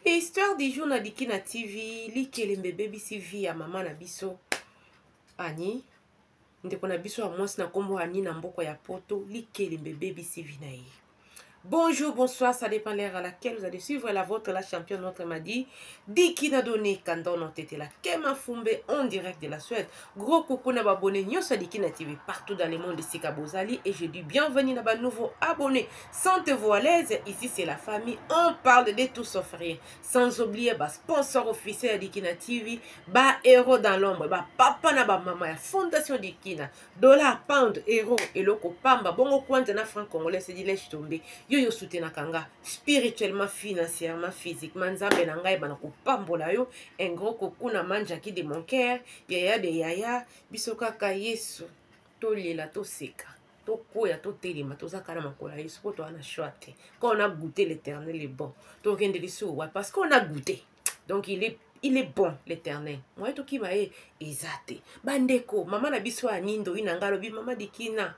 histoire du jour na diki na tv likelembe ebebisi vie ya mama na biso ani ndeko na biso ya mwasi na nkombo ani na mboko ya poto likelembe ebebisi vie na ye Bonjour, bonsoir, ça dépend l'heure à laquelle vous allez suivre la vôtre, la championne, notre Madi, Dikina Doni, Kandono Tetela, Kema Fumbe, en direct de la Suède. Gros coucou na babone nyonso ya Dikina TV partout dans le monde esika bozali et je dis bienvenue na ba nouveaux abonnés. Sentez-vous à l'aise, ici c'est la famille, on parle de tout sauf rien. Sans oublier ba sponsors officiels ya Dikina TV, ba héros dans l'ombre, ba papa na ba mama ya fondation Dikina, dollar, pound, euro, eloko pamba, bongo kwanja na franc congolais c'est dit lèche tomber. Yo yo soutenaka nga spirituellement, financièrement, physiquement, nzambe na ngai bana kopambola yo. Un gros coucou na manjaki de mon cœur. yaya de yaya biso kaka yesu tolela toseka tokwea totelema toza kala makolo ya yesu mpo toa na choix te quand on a goûté l'éternel est bon tokende lisusu wa parce qu'on a goûté donc il est il est bon l'éternel moye tokima ye eza te bandeko mama na biso ya nindo ina ngai alobi mama dikina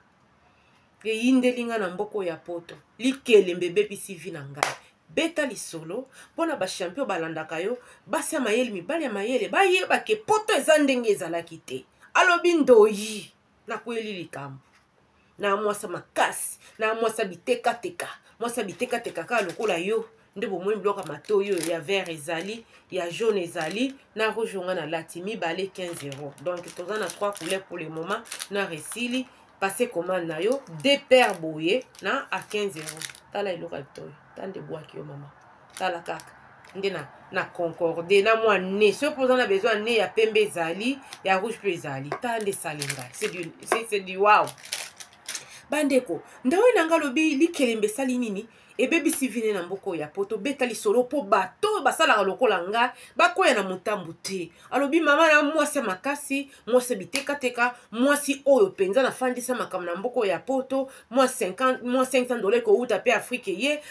eyindeli nga na mboko ya poto likelembe ebebisi vi na ngai beta lisolo mpo na bachampion balandaka yo basi ya mayele mibali ya mayele bayeba ke poto eza ndenge ezalaki te alobi ndoyi nakweli likambo na mwasa makasi na mwasa bitekateka mwasa bitekateka kaka lokola yo nde bomoni biloko ya matoi oyo ya vert ezali ya jaune ezali na rouge onga na lati mibale 15 euro donc toza na 3 couleur pour le moment na resili passe commande na yo de paire boye na a 15 euro tala eloko ya bitoi ta nde bwaki yo mama tala kaka nde na, na concorde na mwa ne soki mpo oza na besoin ya ne ya pembe ezali ya rouge mpe ezali ta nde salenga c'est du wow bandeko ndawe na ngai alobi likelembe esali nini ebebisi vine na mboka oyo ya poto beta lisolo mpo bato oyo basalaka lokola ngai bakwea na motambo te alobi mama na mwasi ya makasi mwasi ya bitekateka mwasi oyo mpenza nafandisa makambo na mboka oyo ya poto mwa 500 dola ekouta mpe afrike ye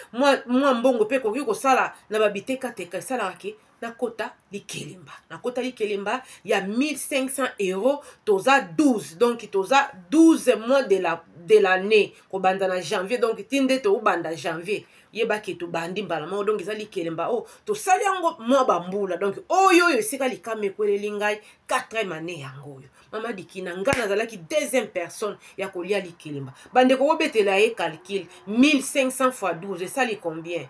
mwa mbongo mpe ekoki kosala na babitekateka esalaka ke nakota likelemba nakota likelemba ya 1500 euro toza 12 donc toza 12 mois de la de l'année kobanda na janvier donc ti nde toobanda janvier yebaki tobandi mbala moko donc eza likelemba oyo oh, tosali yango mwa bambula donc oyo oyo esika likama ekweleli ngai 4 mane yango oyo mama dikina ngai nazalaki deuxième personne ya kolia likelemba bandeko kobetela ye calcule 1500 fois 12 esali combien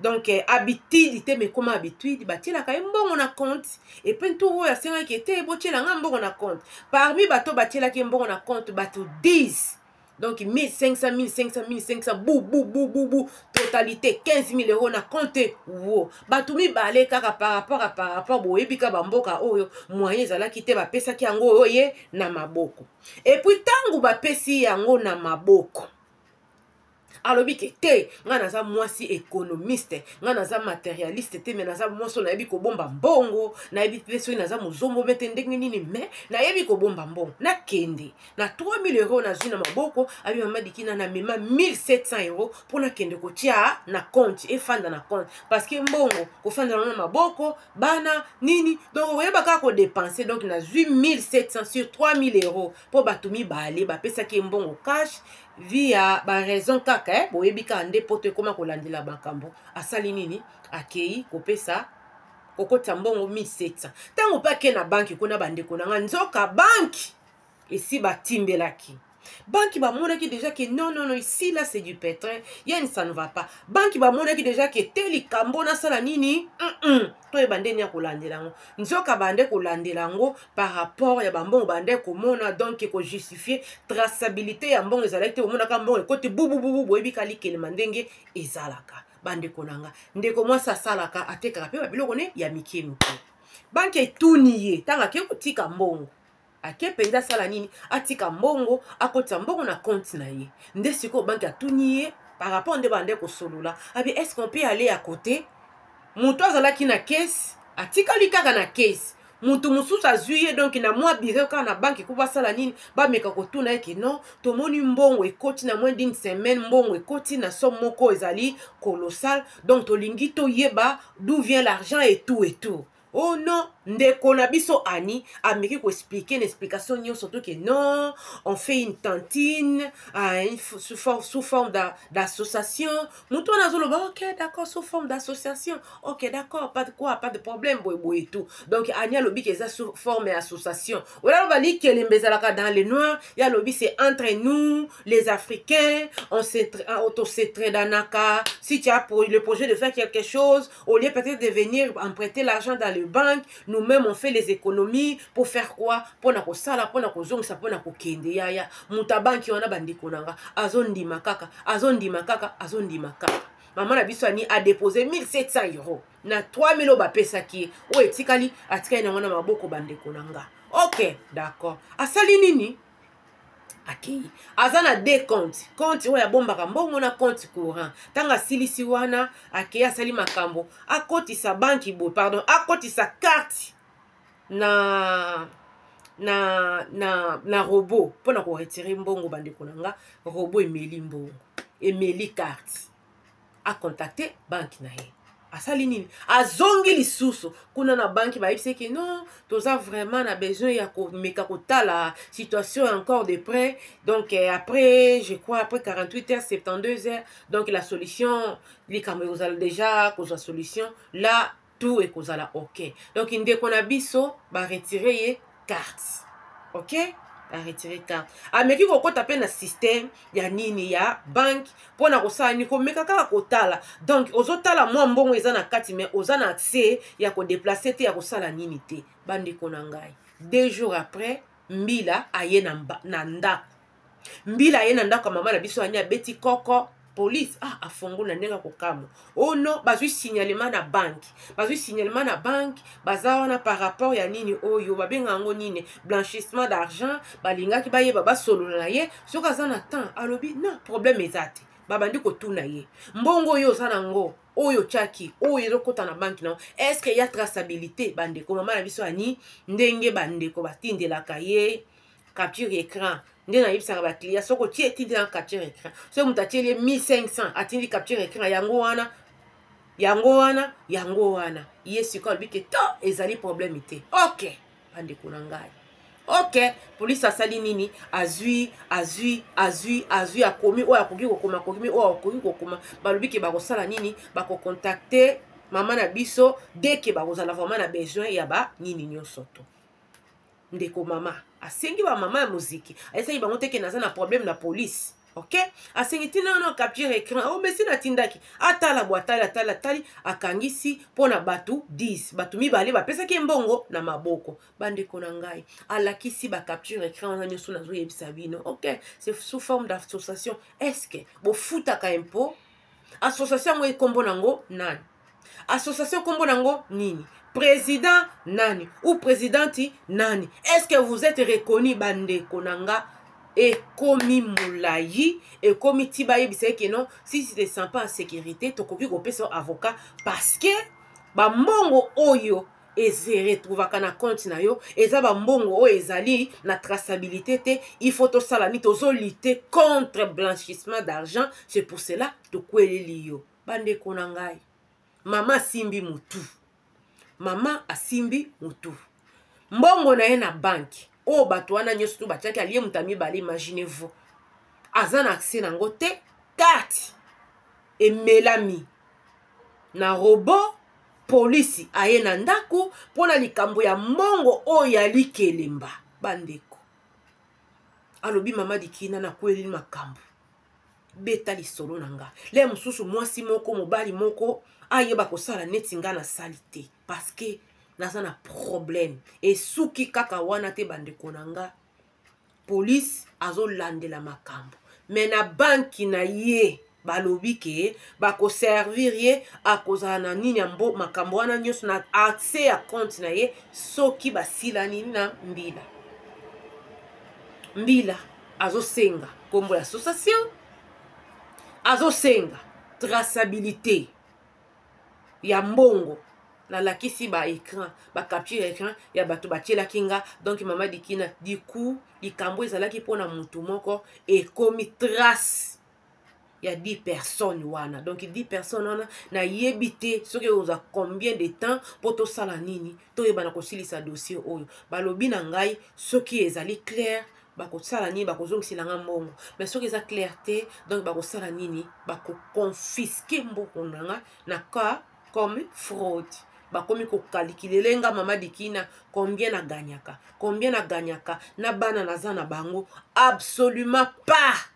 donc eh, habitude te mekoma habitude batielaka ye mbongo na compte epuis ntu oyo asengaki ete botiela nga mbongo na compte parmi bato batielaki ye mbongo na compte bato 10 donc 1500 1500 1500 bu bu bu bu bu totalité 15 000 euros na compte wo bato mibale kaka par rapport a par rapport boyebi ka bamboka oyo moyen ezalaki te bapesaki yango oyo ye na maboko epuis ntango bapesi yango na maboko alobi ke te ngai naza mwasi ekonomiste ngai naza materialiste te me naza mwasi oyo nayebi kobomba mbongo nayebi mpe soki naza mozombo mpe te ndenge nini me nayebi kobomba mbongo nakende na 3000 euro nazwi na maboko abi mama dikina namema 1700 euro mpo nakende kotya na compte efanda na compte parce que mbongo kofanda yango na maboko bana nini donc oyeba kaka kodepense donc nazwi 1700 sur 3000 euro mpo bato mibale bapesaki ye mbongo cash vie ya ba raison kaka eh? boyebi kaka nde poto ekoma kolandela makambo asali nini akei kopesa kokotisa mbongo 1700 ntango mpe ake na banki kuna bandeko na ngai nzoka banki esi batimbelaki banki bamonaki déjà ke non non non ici là c'est du pétrin yani ça ne va pas banki bamonaki déjà ke te likambo nasala nini mm -mm. toyeba nde nini ya kolandela yango nzoka bande kolandela yango par rapport ya bambongo bandaki komona donc ekojustifie traçabilité ya mbongo ezalaki te omonaka mbongo ekoti bubububu boyebi kalikelema ndenge ezalaka bandeko na nga ndeko mwasi asalaka atekaka mpe babiloko ne ya mikie mikie banke etuni ye ntango ake kotika mbongo ake mpenza asala nini atika mbongo akotisa mbongo na konte na ye nde sikoyo banke atuni ye par rapport nde bande kosolola abi est ce qu'on peut aller à côté moto azalaki na kesi atikali kaka na kesi moto mosusu azwi ye donk na mwa biro kaka na banki ko basala nini bameka kotuna ye ke non tomoni mbongo ekoti na moins d'une semaine mbongo ekoti na somme moko ezali colossal donc tolingi toyeba d'où vient l'argent et tout et tout oh non ndeko na biso ani ameki koexplike na explication nyonso to ke non on fait une tantine uh, sous, forme, sous forme d'association moto wana azoloba ok d'accord sous forme d'association ok d'accord pas de quoi pas de problème boye boye tout donc ani alobi ke eza sous forme ya association oyo aloba likelembe ezalaka dans le noir ye alobi c'est entre nous les africains on se, on se tradanaka si tu as le projet de faire quelque chose Au lieu peut-être de venir emprunter l'argent dans le banque, nous-mêmes on fait les économies pour faire quoi Pour na kosala, pour na kozongisa, pour na kokende ya ya. Muta banki wana bandeko nanga, azondima kaka, azondima kaka, azondima kaka. Maman na biso ani a déposé 1700 euros na 3000 oyo bapesaki ye oyo etikali atikali nango na maboko bandeko na nga ok d'accord asali nini akei aza na de compte compte oyo abombaka mbongo na compte courant ntango asilisi wana akei asali makambo akotisa banki boye pardon akotisa karte na na na na robot mpo na koretire mbongo bandeko na nga robot emeli mbongo emeli karte acontacte banki na ye asali nini azongi lisusu kuna na banki bayebisi ke non toza vraiment na besoin ya komeka kotala situation encore de près donc eh, après je crois après 48 heures 72 heures donc la solution likambo ekozala déjà kozwa solution là tout ekozala ok donc ndeko na biso baretire ye carte ok aretire carte ameki kokɔta mpe na systeme ya nini ya banke mpo na kosala nini komeka kaka kotala donc ozotala mwa mbongo eza na kati mai oza na accès ya kodeplace te ya kosala nini te bandeko na ngai deux jours après mbila aye na, na ndako mbila aye na ndako ya mama na biso anya abeti koko police ah afongola ndenge akokamwa oh no bazwi signalement na banki bazwi signalement na banki baza wana par rapport ya nini oyo babenga yango nini blanchissement d'argent balingaki bayeba basolola na ye soki aza na temps alobi na problème eza te babandi kotuna ye mbongo oyo oza na ngo oyo otyaki oyo ezokota na banki na est ce que ya traçabilité bandeko mama na biso ani ndenge bandeko batindelaka ye capture écran nde nayebisaka bacliya soki otie etindi na capture écran soki moto atieli ye 1500 atindi capture écran yango wana yango wana yango wana ye sikoyo alobi ke to ezali problème te ok bandeko na ngai ok polisi asali nini azwi azwi azwi azwi akomi oyo akoki kokoma akomi oyo akoki kokoma balobi ke bakosala nini bakokontakte mama na biso deke bakozala vraiment na besoin ya banini nyonso to ndeko mama asengi bamama ya moziki ayesaki bango te ke naza na problème na polise ok asengi ntina wana capture écran o oh, mesi natindaki atala bwa atali atali atali akangisi mpo na bato 10 bato mibale bapesaki ye mbongo na maboko bandeko na ngai alakisi bacapture écran wana nyonso nazoyebisa bino ok c'est sous forme d'association est ce que bofutaka impôt association yango ekombo nango nani association kombo nango nini président nani ou présidenti nani est ce que vous êtes reconnu bandeko na nga ekomi molai ekomi ti bayebisa ye keno si tu te sens pas en sécurité tokoki kopesa avocat parce que bambongo oyo ezeretrouvaka na compte na yo eza bambongo oyo ezali na traçabilité te il faut tosala nini tozolite contre blanchissement d'argent c'est pour cela tokweleli yo bandeko na ngai mama asimbi motu mama asimbi motu mbongo na ye na banke oyo bato wana nyonso to batiaki alie moto ya mibale imagine vous aza na accès na yango te karte emelami na robot polisi aye na ndako mpo na likambo ya mbongo oyo ya likelemba bandeko alobi mama dikina nakweli makambo beta lisolo na nga le mosusu mwasi moko mobali moko ayeba kosala neti nga nasali te parceke naza na problème esuki kaka wana te bandeko na nga police azolandela makambo me na banki na ye balobi ke bakoservir ye akozala na nini ya mbo makambo wana nyonso na accès ya compte na ye soki basilani na mbila mbila azosenga nkombo ya association azosenga traçabilité ya mbongo nalakisi ba écran ba capture ya écran ya bato batielaki nga donc mama dikina diku likambo ezalaki mpo na motu moko ekomi trace ya 10 personnes wana donc 10 personnes wana nayebi te soki oza combien de temps mpo tosala nini toyebana kosilisa dossier oyo balobi na ngai soki ezali claire bakosala nini bakozongisela nga mbongo me soki eza claire te donc bakosala nini bakoconfiske mbongo na nga na cas comme fraude bakomi kokalikilele nga mama dikina combien na ganyaka combien na ganyaka na bana naza na bango absolument pas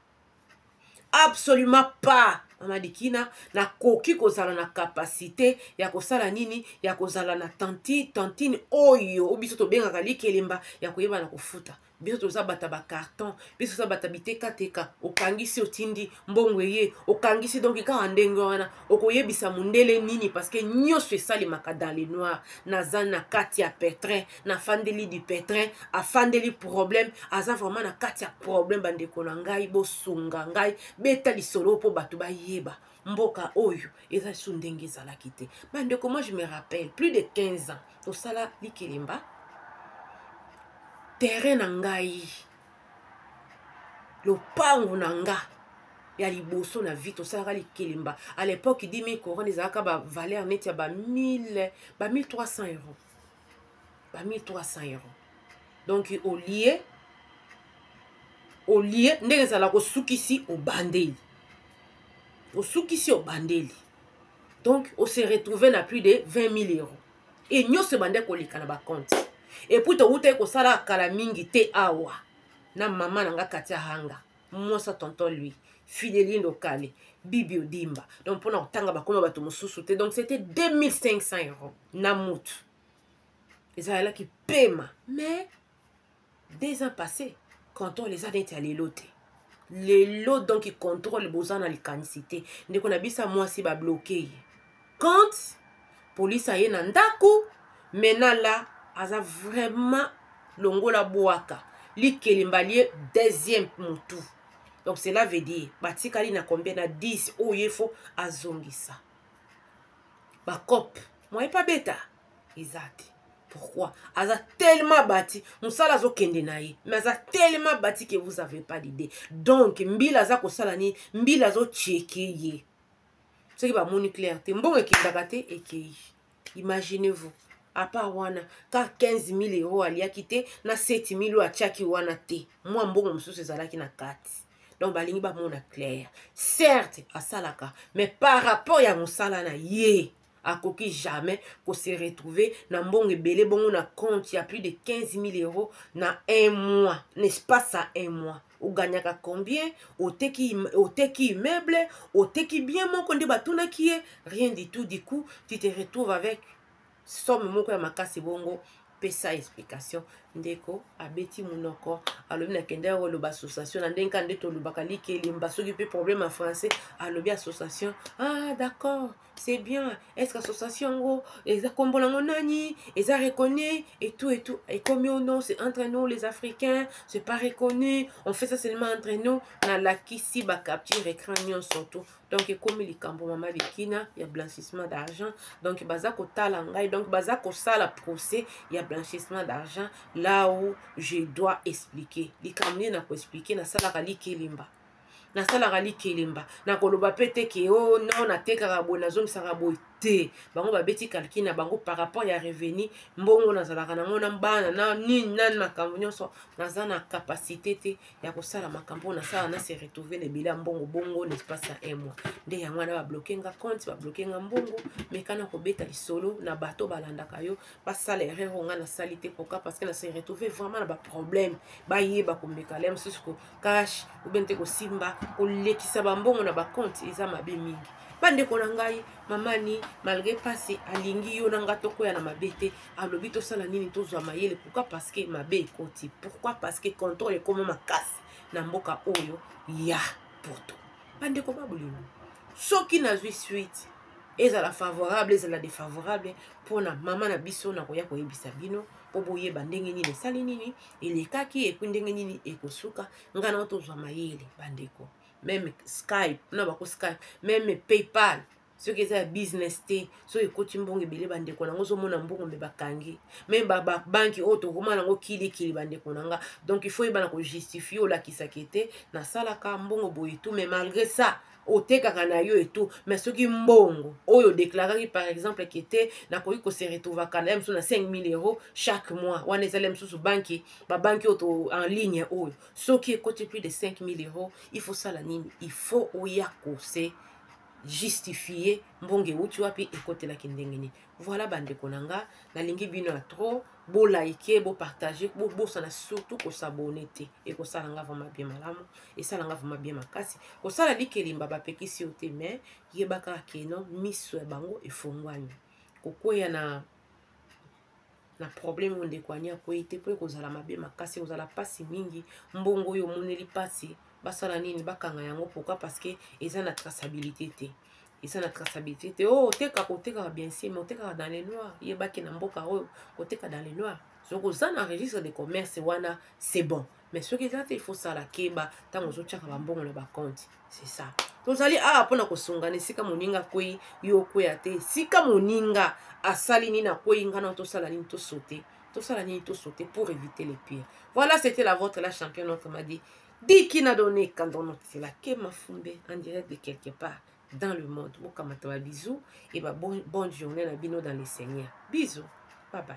absolument pas mama dikina nakoki kozala na kapasite ya kosala nini ya kozala na tanti tantine oyo o biso tobengaka likelemba ya koyeba na kofuta biso toza bata bacarton biso toza bata bitekateka okangisi otindi mbongo eye okangisi donki kaka ndenge wana okoyebisa mondele nini parceke nyonso esalemaka dans le noir naza na kati ya petrin na fandeli du petrin afandeli problème aza vraiment na kati ya problème bandeko na ngai bosunga ngai beta lisolo mpo bato bayeba mboka oyo eza lisusu ndenge ezalaki te bandeko moi je me rappelle plus de 15 ans tosala likelemba terrain na ngai lopango na nga ya liboso na vie tosalaka likelemba à l'époque 10 000 couronne ezalaka bavaleur neti ya ba 1300 euros ba 1300 euro donc olie olie ndenge ezalaka osukisi obandeli osukisi obandeli donc ose retrouve na plus de 20 000 euro e nyonso ebandaki koleka na bacompte epuis towutaki kosala kala mingi te awa na mama na nga katia hanga mwasa tonton lui fidelindo kale bibi odimba donc mpona kotanga bakoma bato mosusu te donc c'était 2500 euro na mutu ezalaki pema mais deux ans passé contrôle eza neti ya lelo te lelo donk contrôle boza na likanisi te ndeko na biso ya mwasi babloke ye quand polisi aye na ndako mena la aza vraiment longola bwaka likelemba lie deuxième motu donc cela veut dire batikali na combien na 10 oyo ye fo azongisa bacope moye pa beta eza te pourquoi aza tellement bati mosala azokende na ye mais aza tellement bati que vous avez pas d'idée donc mbila aza kosala nini mbila azocheke ye soki bamoni claire te mbongo ekendaka te ekei imaginez vous apart wana ka 15 000 euro aliaki te na 7 000 oyo atiaki wana te mwa mbongo mosusu ezalaki na kati donc balingi bamona claire certes asalaka mais par rapport ya mosala na ye akoki jamais ko se retrouver na mbongo ebele bongo na compte ya plus de 15 000 euros na un mois na espace ya un mois oganyaka combien oteki, oteki immeuble oteki bien moko nde batunaki ye rien du tout du coup tu te retrouve avec somme moko ya makasi bongo pesa explication ndeko abeti monoko alobi nakendaki koloba association na ndenge kaka nde tolobaka likelemba soki mpe problème ya français alobi association ah d'accord c'est bien est ce que association yango eza nkombo nango nani eza reconnu et tout et tout ekomi o non c'est entre nous les africains c'est pas reconnu on fait ça seulement entre nous nalakisi bacapture écran nyonso tout donc ekomi likambo mama bikina ya blanchissement d'argent donc baza kotala ngai donc baza kosala procès ya blanchissement d'argent là où je dois expliquer likambo nini nakoexplike nasalaka likelemba nasalaka likelemba nakoloba mpe te ke o oh, no natekaka boye nazongisaka boye te bango babeti calcul na bango par rapport ya revenu mbongo nazalaka nango na bana na nini nani makambo nyonso naza na capacité te ya kosala makambo oyo nasala na se retrouve na ebele ya mbongo bongo na espace ya un mois nde yango wana babloke nga compte babloke nga mbongo mekana kobeta lisolo na bato balandaka yo basala erreur oyo nga nasali te pourquoi parce que na se retrouve vraiment na baproblème bayeba komeka le mosusu cash ou bien te kosimba kolekisa bambongo na bacompte eza mabe mingi bandeko na ngai mamani malgré pasi alingi yo na ngai tokwea na mabe te alobi tosala nini tozwa mayele pourkui parce que mabe ekoti pourkui parce que contrôle ekoma makasi na mboka oyo ya poto bandeko babolingo soki nazwi suite ezala favorable ezala défavorable mpona mama na biso nakoya koyebisa bino mpo boyeba ndenge nini esali nini elekaki epui ndenge nini ekosuka nga nao tozwa mayele bandeko meme skype na bako skype meme paypal soki eza ya business te soki ekoti mbongo ebele bandeko na yango ozomona mbongo mpe bakangi me babanki oyo tokoma nango kilikili bandeko na nga donc il faut yebana kojustifie olakisaka ete nasalaka mbongo boye tu me malgré ça otekaka na yo etu mais soki mbongo oyo odeklaraki par exemple ke te nakoki kose retrouvaka na ye mosusu na 5000 euro chaque mois wana ezali mosusu banki babanki oyo to en ligne oyo soki ekoti plus de 5000 euro il faut sala nini il faut oya kose justifie mbongo euti wapi ekotelaki ndenge nini voilà bandeko na nga nalingi bino ya trop bo like bo partage bobosana surtout kosabone te ekosala nga vraimen bien malamu esala nga vraimen bien makasi kosala likelemba bapekisi yo te mais yeba kaka keno miso ya bango efongwani kokweya na na problème oyo ndeko ani akwei te mpo ekozala mabe makasi ekozala mpasi mingi mbongo oyo omoneli mpasi basala nini bakanga yango pourkui parce que eza na traçabilité te eza na traçabilité te o oh, otekaka otekaka bien sûr mais otekaka dans le noir yebaki na mboka oyo koteka dans le noir soki oza na registre de commerce wana c'est bon mais soki eza te il faut sala keba ntango ozotyaka bambongo na bakonti c'est ça tozali awa mpo na kosungana esika moninga akwei yo okweya te esika moninga asali nini akwei ngai na tosala nini tosote tosala nini tosote pour éviter le pire voilà c'était la vôtre la championne autrement dit Diki na donne kandon nokitela ke mafumbe en direct de quelque part dans le monde bokamata ba bisous et ba bon, bonne journée na bino dans le Seigneur bisous bye bye